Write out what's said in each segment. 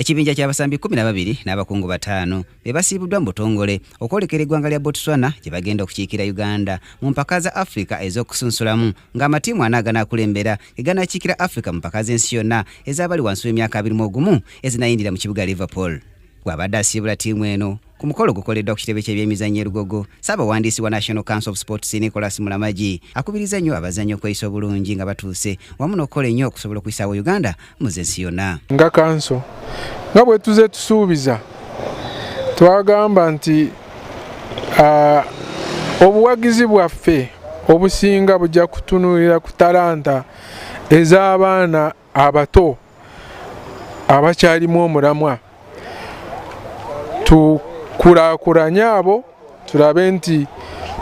Ekibinja ky'abasambi kkumi na babiri n'abakungu bataano be basiibuddwa mu butongole okwolekera eggwanga lya Botswana gye bagenda okukiikira Uganda mu mpaka za Afrika ez'okusunsulamu ng'amatiimu ana aganaakulembera ge ganaakiikira Afrika mu mpaka z'ensi yonna ez'abali wansi w'emyaka abiri mu ogumu ezinayindira mu kibuga Liverpool. Bw'abadde asiibula ttiimu eno, Ku mukolo gukoleddwa ku kitebe ky'ebyemizannyo e Lugogo, ssaabawandiisi wa National Council of Sports Nicholas Mulamagi akubiriza nnyo abazannyi okweyisa obulungi nga batuuse wamu n'okukola ennyo okusobola okuyisaawo Uganda mu zensi yonna. Nga kanso nga bwe tuze tusuubiza twagamba nti obuwagizi bwaffe obusinga bujja kutunuulira ku talanta ez'abaana abato abakyalimu omulamwa tukulakulanye abo tulabe nti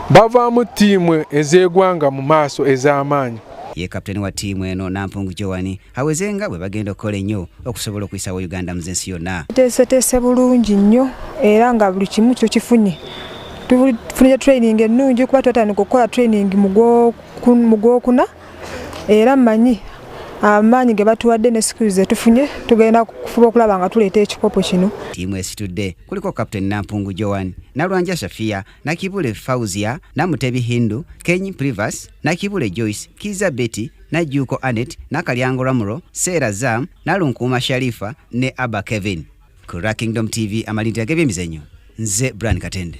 bavaamu ttiimu ez'egwanga mu maaso ez'amaanyi ye kaputeni wa ttiimu eno nampungu jowani aweze nga bwe bagenda okukola ennyo okusobola okuyisawo uganda muze ensi yonna tuteeseteese bulungi nnyo era nga buli kimu kyo kifunye tufunire training ennungi kuba twatandika okukola training mu gwokuna era manyi amaanyi ge batuwadde ne sikulu ze tufunye tugenda kufuba okulaba nga tuleeta ekikopo kino ttiimu esitudde kuliko captain nampungu joan nalwanja shafia nakibule fauzia namutebi hindu keny privas nakibule joyce kiza betty najjuuko anet nakalyango ramuro seera zam nalunkuuma sharifa ne abba kevin ku rakingdom tv amalindira g'ebyemizanyo nze bran katende